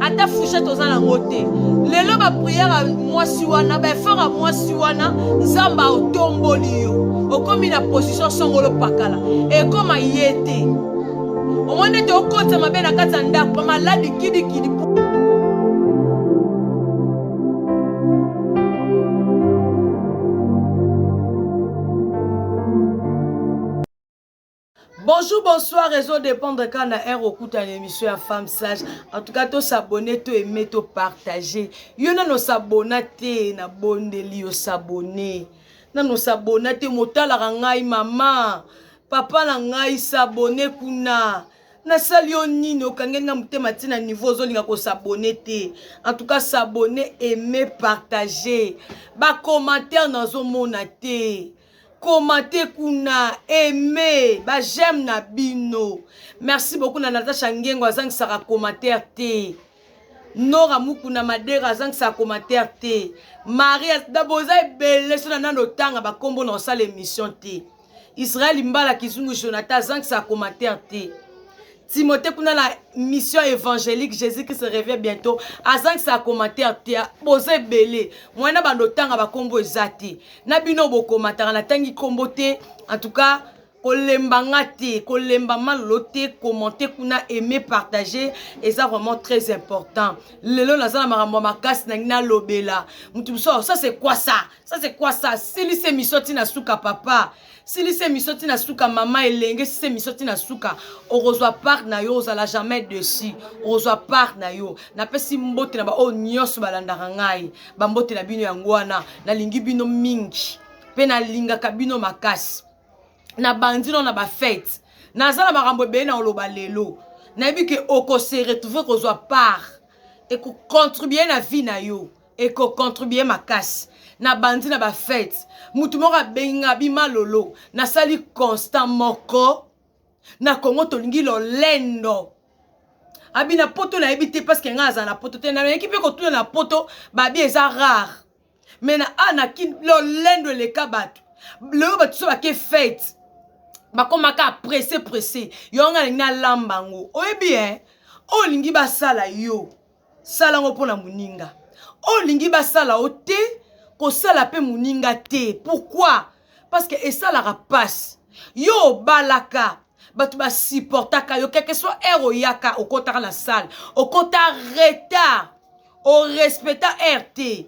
ata fouchette oza nango te lelo bapriere ya mwasi wana baefort ya mwasi wana nzambe aotomboli yo okomi na position songolo pakala ekoma ye te omoni ete okotisa mabe na kati ya ndako bamaladi kidikidi Bonjour, bonsoir, réseau dépendre quand na heure okuta une émission ya femme sage. En tout cas, to s'abonner, to aimer, to partager. Yo nano s'abonna te na bondeli yo s'abonner. Nano s'abonna te motalaka ngai mama. Papa na ngai s'abonner kuna. nasali yo nini okangeli nga motema ti na niveau ozolinga kosabone te en tout cas s'abonner aimer partager bacommentaire nazomona te komate kuna aime ba j'aime na bino merci beaucoup na natasha ngengo azangisaka commentaire te nora mukuna madera azangisaka commentaire te maria daboza ebele so na nano otanga bakombo na osala émission te israel mbala kizungu jonathan azangisaka commentaire te Timothée kuna na mission évangélique Jésus qui se revient bientôt azangisa commentaire te boza ebele mwana bando tanga bakombo eza te na bino bokomataka natangi kombo te en tout cas kolemba nga te kolemba malolo te commente kuna aime partage eza vraiment très important lelo naza na makambo ya makasi nangi nalobela moto mosusu ça c'est quoi ça ça c'est quoi ça silisa émission ntina suka papa silisa emission ti na suka mama elenge silisa emission ti na suka okozwa part na yo ozala jamais dessus okozwa part na yo napesi mbote na baoyo nyonso balandaka ngai bambote na bino yango wana nalingi bino mingi mpe nalingaka bino makasi nabandi no na bafete naza na makambo ebele na oloba lelo nayebi ke okose retrouve kozwa part ekocontribue na vie na yo eko contribuer makasi na bandi na ba fete mutu moko abengi nga abi malolo nasali constant moko na congo tolingi lolendo abi na poto nayebi te parce que nga azala na poto te nayeki mpe kotuna na poto babi eza rare me na a na kin lolendo eleka bato lelo bato so bake fete bakomaka presse presse yo nga nalingi nalamba yango oyebi e oyo olingi basala yo sala ngo pona muninga oyo olingi basala yo te kosala pe muninga te pourquoi parce que esalaka pasi yo obalaka bato basupportaka yo quelque soit heure oyaka okotaka na salle okota retard orespecta heure te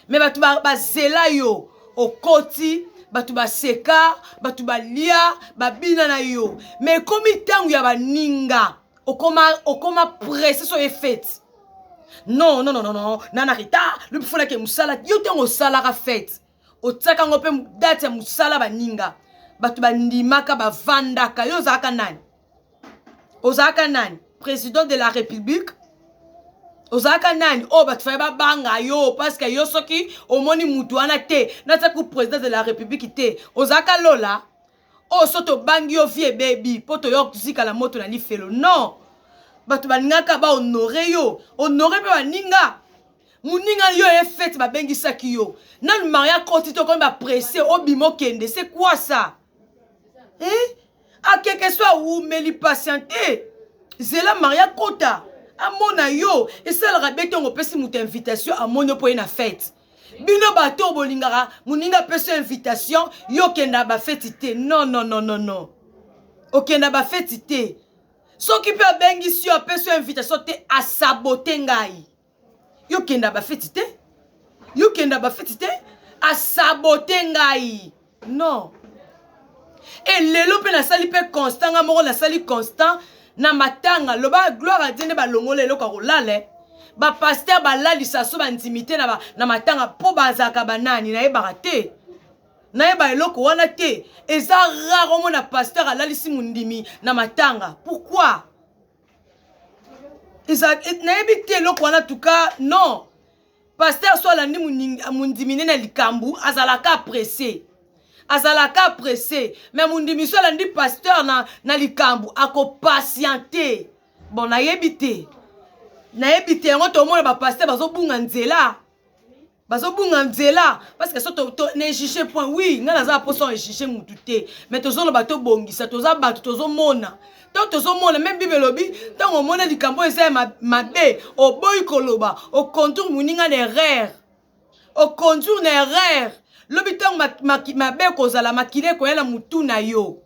me bato bazela yo okoti bato baseka bato balia babina na yo me ekomi ntango ya baninga okoma okoma presse so ye fete non non non non nana rita lobi fonake mosala yo ntango osalaka fete otiaka yango mpe date ya mosala baninga bato bandimaka bavandaka yo ozalaka nani ozalaka nani président de la république ozalaka nani oyo oh, bato faye babanga yo parceke yo soki omoni mutu wana te nasaku président de la république te ozalaka lola oyo oh, so tobangi yo vie ebebi mpo toyoka kozika na moto na lifelo non bato balingaka bahonore yo honore mpe baninga moninga yo ye fete babengisaki yo nanu maria koti tokomi bapresse obima okende se kwasa eh? akeke so awumeli patiente zela maria kota amona yo esalaka be ntongo opesi moto invitation amoni mpo ye na fete bino bato oyo bolingaka moninga apesa invitation yo okenda bafeti te non non non non non okenda bafeti te soki mpe abengisi yo apesi yo invitation te asabote ngai yo kenda ba feti te yo kenda ba feti te asabote ngai non e lelo mpe nasali mpe constant ngai moko nasali constant na matanga loba gloire adie nde balongola eloko ya kolala eh. bapaster balalisa so bandimi te na, na matanga mpo bazalaka banani nayebaka te nayeba eloko wana te eza rare omona paster alalisi mondimi na matanga pourquoi nayebi te eloko wana tuka non paster so alandi mondimi ne na likambo azalaka presse azalaka presse me mondimi so alandi paster na, na likambo akopatiente bon nayebi te nayebi te yango tomona bapaster bazobunga nzela bazobunga nzela parce que so nejuge point oui ngai naza na posa ejuge mutu te mais tozoloba tobongisa toza bato tozomona to tozomona meme bible elobi ntango omona likambo eza ya mabe oboyi koloba oconduire moninga na erreur oconduire na erreur lobi ntango mabe ekozala makila ekoya na motu na yo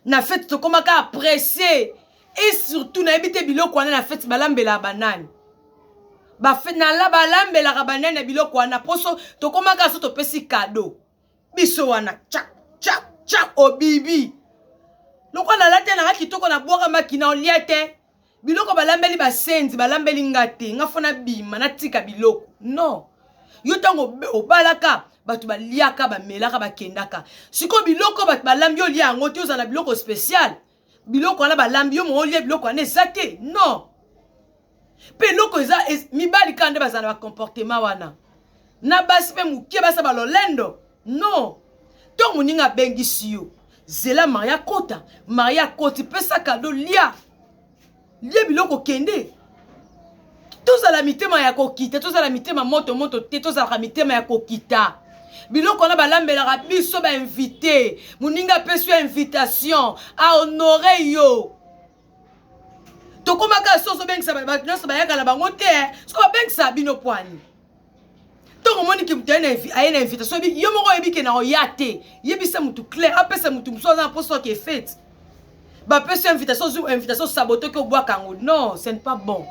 na fete tokoma kaka presse et surtout nayebi te biloko wana na fete balambelaka banani balambelaka banani na biloko wana mposo tokoma kaka so topesi kado biso wana chak chak chak obibi lokola nalati yanaka kitoko na bwaka makina olia te biloko balambeli basenzi balambeli nga te nga fo nabima natika biloko non yo ntango obalaka bato baliaka bamelaka bakendaka sikoyo biloko bato balambi olia yango te ozala na biloko special biloko wana balambi yo moko olia biloko wana eza te non mpe eloko eza mibali kaka nde bazala na bacomportema wana na basi mpe moke basa balolendo non to moninga abengisi yo zela marie akota marie akoti pesa kado lia lia biloko kende tozala mitema ya kokita tozala mitema moto moto te tozalaka mitema ya kokita biloko wana balambelaka biso bainvite moninga apesi yo invitation ahonore yo tokomaka soso obengisa bato nyonso bayaka na bango te soki babengisa bino pwani ntango omoni ke moto aye na invitation yo moko oyebi ke na oya te yebisa motu claire apesa motu mosusu aza na mposa oke fete bapesi yo invitation ozwi invitation sabotoki obwaka yango non ce n'est pas bon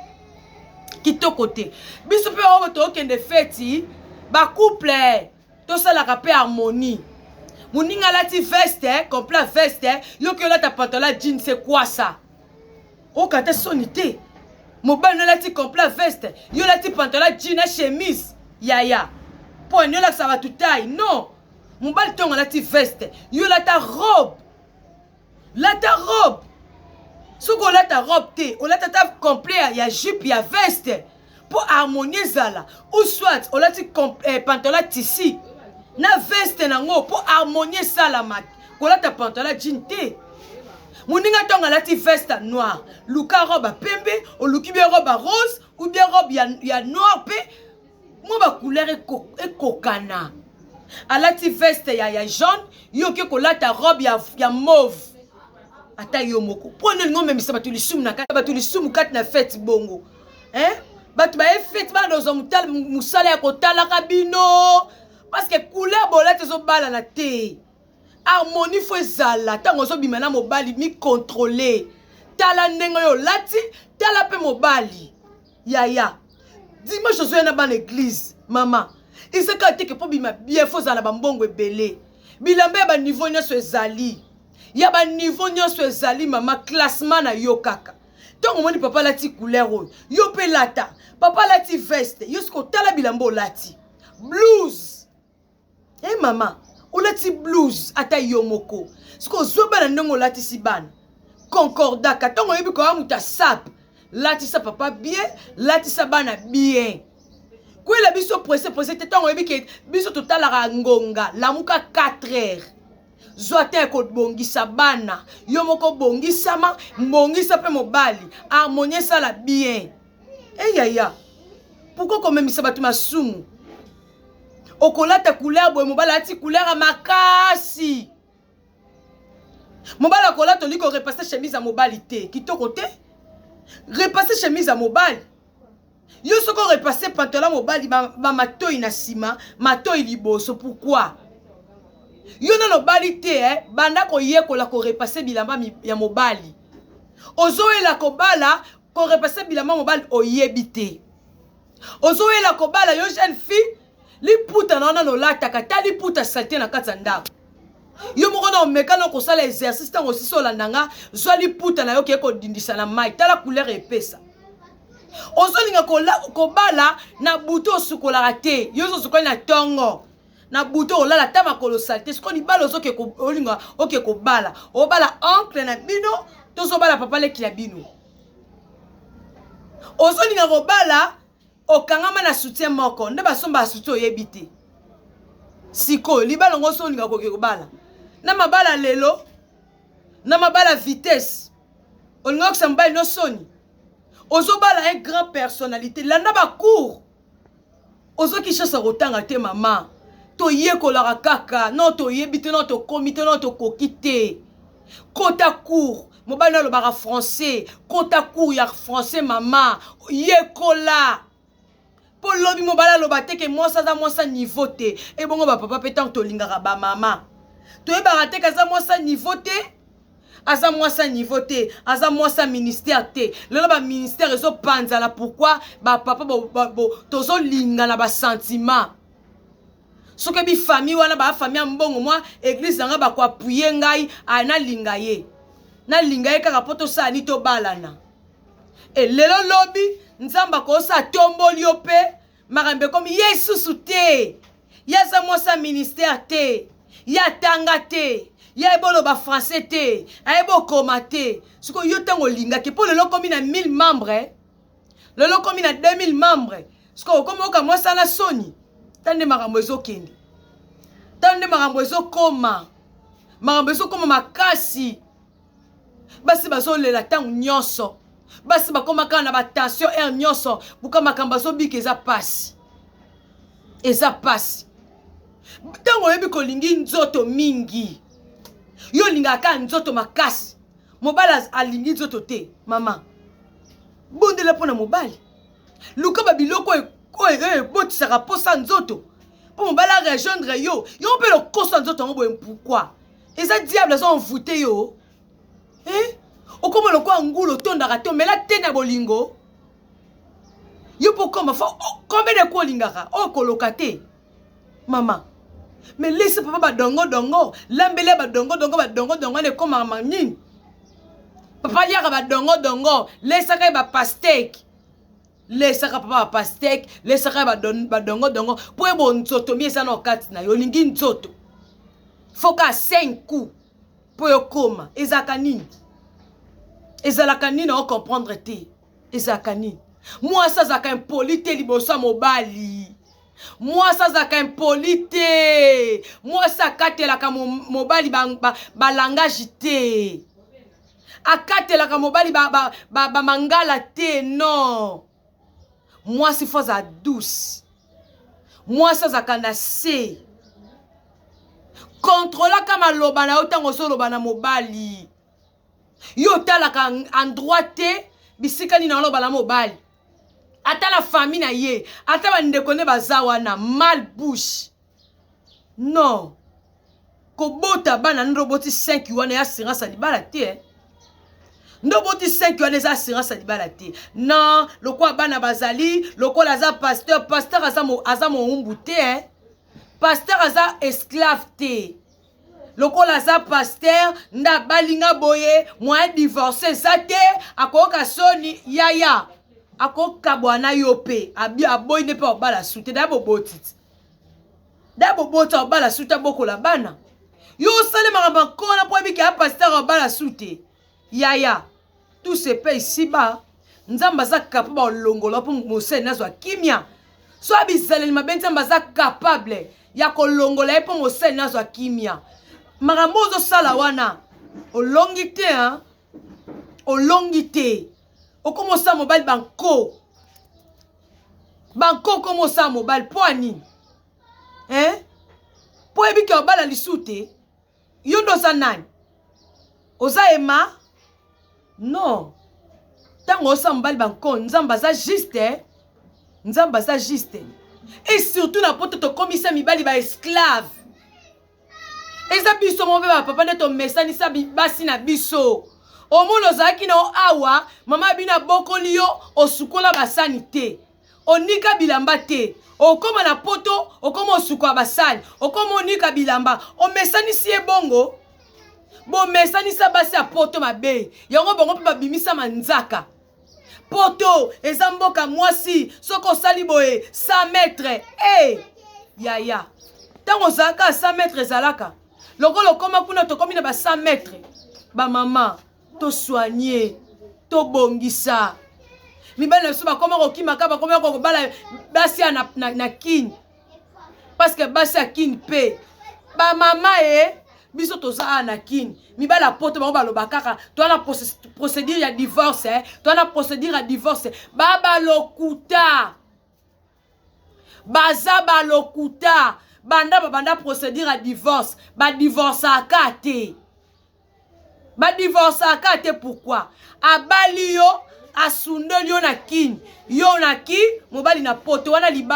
kitoko te biso mpe oyo tookende feti bacouple tosalaka mpe harmonie moninga alati veste complet veste yoki olata pantola jean se kwasa oyoka ata soni te mobali nolati complet veste yo olati pantalon jean na chemise yaya mpo ani olakisa bato tai non mobali ntongo alati veste yo olata robe lata robe soki olata robe te olata ata complet ya jupe ya veste mpo harmonie ezala ou soit olati eh, pantola tisi na veste nango mpo harmonie esalama kolata pantola jean te moninga ntongo alati veste noir luka robe ya pembe oluki bie robe ya rose ou bie robe ya, ya noir mpe mwa bacouleur ekokana alati veste ya, ya jaune yo oke kolata robe ya, ya mauve ata yo moko mpo nini omemisa bato lisumu na kati bato lisumu kati na fete bongo hein bato baye fete bana ozwa mosala ya kotalaka bino parce que couleur bolati ezobalana te harmonie fo ezala ntango ozobima na mobali mikontrole tala ndenge oyo olati tala mpe mobali yaya dimanche ozoya na bana eglize mama ezaka teke mpo bima bien fo ozala bambongo ebele bilamba ya baniveau nyonso ezali ya baniveau nyonso ezali mama classement na yo kaka ntango omoni papa alati couleur oyo yo mpe lata papa alati veste yo soki otala bilamba olati blues e eh, hey, mama olati blues ata yo moko soki ozwa bana ndenge olatisi bana concordaka ntango oyebi koya moto asape latisa papa bien latisa bana bien kwela biso presse presse te ntango oyebi ke biso totalaka ngonga lamuka 4 heures zwa te kobongisa bana yo moko bongisama mbongisa mpe mobali harmonie esala bien eyaya pourkoi komemisa bato masumu okolata couleur boye mobali alati couleur ya makasi mobali akolata olingi korepasse chemise ya mobali te kitoko te repasse chemise ya mobali Yo soki o repasser pantalon mobali ba, ba matoyi na sima, matoyi liboso, pourquoi? Yo nano obali te eh, banda koyekola ko repasser bilamba ya mobali. Ozoyela kobala ko repasser bilamba mobali oyebi te. Ozoyela kobala yo jeune fille liputa na wana lolataka ta liputa salite na kati ya ndako yo moko na omeka na kosala exercice ntango osisi olanda nga zwa liputa na yo kee kodindisa na mai tala couleur epesa ozolinga kobala na butu osukolaka te yo ozosukolaki na ntongo na butu olala ata makolo sali te sikoyo libala ozolinga oke kobala obala oncle na bino tozobala papa leki na bino ozolinga kobala okangama na soutien moko nde basombaka soutien oyebi te sikoyo libala ngo so olinga koke kobala na mabala lelo na mabala vitesse olinga okisa mobali no soni ozobala un grand personnalité landa bacour ozo kinshasa kotanga te mama toyekolaka kaka no toyebi te no tokomi te no tokoki te kota cour mobali no alobaka français kota cour ya français mama yekola mpo lobi mobali aloba te ke mwasi aza mwasi ya niveau te ebongo bapapa mpe ntango tolingaka bamama toyebaka te ke aza mwasi ya niveau te aza mwasi ya niveau te aza mwasi ya ministère te lelo baministère ezopanzana pourkui bapapa tozolingana basentiment soki bi famille wana ba famille ya mbongo mwa eglise na ngai bako appuye ngai a nalinga ye nalinga ye kaka mpo tosala ni tobalana e lelo lobi nzambe akosa atomboli yo mpe makambo ekomi ye lisusu te ye aza mwasi ya ministère te ye atanga te ye ayebi oloba français te ayebi okoma te sikoyo yo ntango olingaki mpo lelo okomi na 1000 membre eh? lelo okomi na 2000 membre sikoy okomi oka mwasala soni tala nde makambo ezokende tala nde makambo ezokoma makambo ezokoma makasi basi bazolela ntango nyonso basi bakoma kaka na batension aire nyonso buka makambo azobika eza mpasi eza mpasi ntango oyebi kolingi nzoto mingi yo olingaka kaka nzoto makasi mobali alingi nzoto te mama bondela mpo na mobali luka babiloko oyo oyo ebotisaka mposa nzoto mpo mobali arejoindre yo yo mpe lokoso ya nzoto yango boye mpokwa eza diable aza envoute yo eh? okoma lokola ngulu otondaka te omela te na bolingo yo mpo okoma fo oh, combien de ko olingaka oyo oh, koloka te mama me lesi papa badongo dongo lambeli ya badongo dongo badongo dongo wana ekomaka manini papa aliaka badongo dongo lesaka ye bapasteke lesaka papa bapasteke lesaka ye badongo dongo mpo ebo nzoto mi eza na okati na yo olingi nzoto foka 5 coup mpo yokoma ezalaka nini ezalaka nini ocomprendre te ezalaka nini mwasi azalaka impoli te liboso ya mobali mwasi azalaka impoli te mwasi akatelaka mobali balangage ba, ba te akatelaka mobali bamangala ba, ba, ba te non mwasi fo azala douce mwasi azalaka na se kontrolaka maloba na yo ntango ozoloba na mobali yo otalaka endroit te bisika nini aloba na mobali ata na famille na ye ata bandeko nde baza wana mal bouche non kobota bana nde oboti 5 wana ya assurance ya libala te eh? nde oboti 5 wana eza assurance ya libala te non lokola bana bazali lokola aza pasteur pasteur aza, mo, aza moumbu te eh? pasteur aza esclave te lokola aza pasteur nde abali nga boye moya divorce eza te akoyoka soni yaya akokabwa na yo mpe aboyi nde mpe obala su te daya boboti ti daya boboti obala su te abokola bana yo osali makambo ya nkona mpo oyebi ke ya pasteur obala su te Yaya tout se paye ici bas nzambe aza capable olongola mpo moseleni azwa kimia so ya bizaleli mabe nzambe aza capable ya kolongola ye mpo moseleni azwa kimia makambo ozosala wana olongi te hein? olongi te okoma osala mobali banko banko okoma osala mobali mpo ya nini eh? mpo oyebi ke obala lisusu te Yo nde oza nani? Oza Emma? Non. Tango osa mobali banko, Nzambe aza juste. Nzambe aza juste. Et surtout na poto tokomisa mibali ba esclave. Eza biso mobe ba papa nde tomesanisa basi na biso. Omona ozalaki na awa, mama bino abokoli yo, osukola basani te. onika bilamba te okoma na poto okoma osuka basali okoma onika bilamba omesanisi ye bongo bomesanisa basi ya poto mabe yango bango mpe babimisa manzaka poto eza mboka mwasi soki osali boye 100 metre e hey, yaya ntango ozalaka 100 metre ezalaka lokola okoma kuna tokomi na ba 100 metre bamama tosoigne tobongisa mibali na biso bakoma kokimaka bakoma kokobala basi ya na, na, na kin parce que basi ya kin mpe bamama ye biso toza awa na kin mibali ya poto bango baloba kaka toa na procédure ya divorce eh. toa na procédure ya divorce babalokuta baza balokuta banda babanda procédure ya divorce badivorcaka te badivorcaka te pourkui abali yo asundoli yo na kini yo na ki mobali na poto wana libala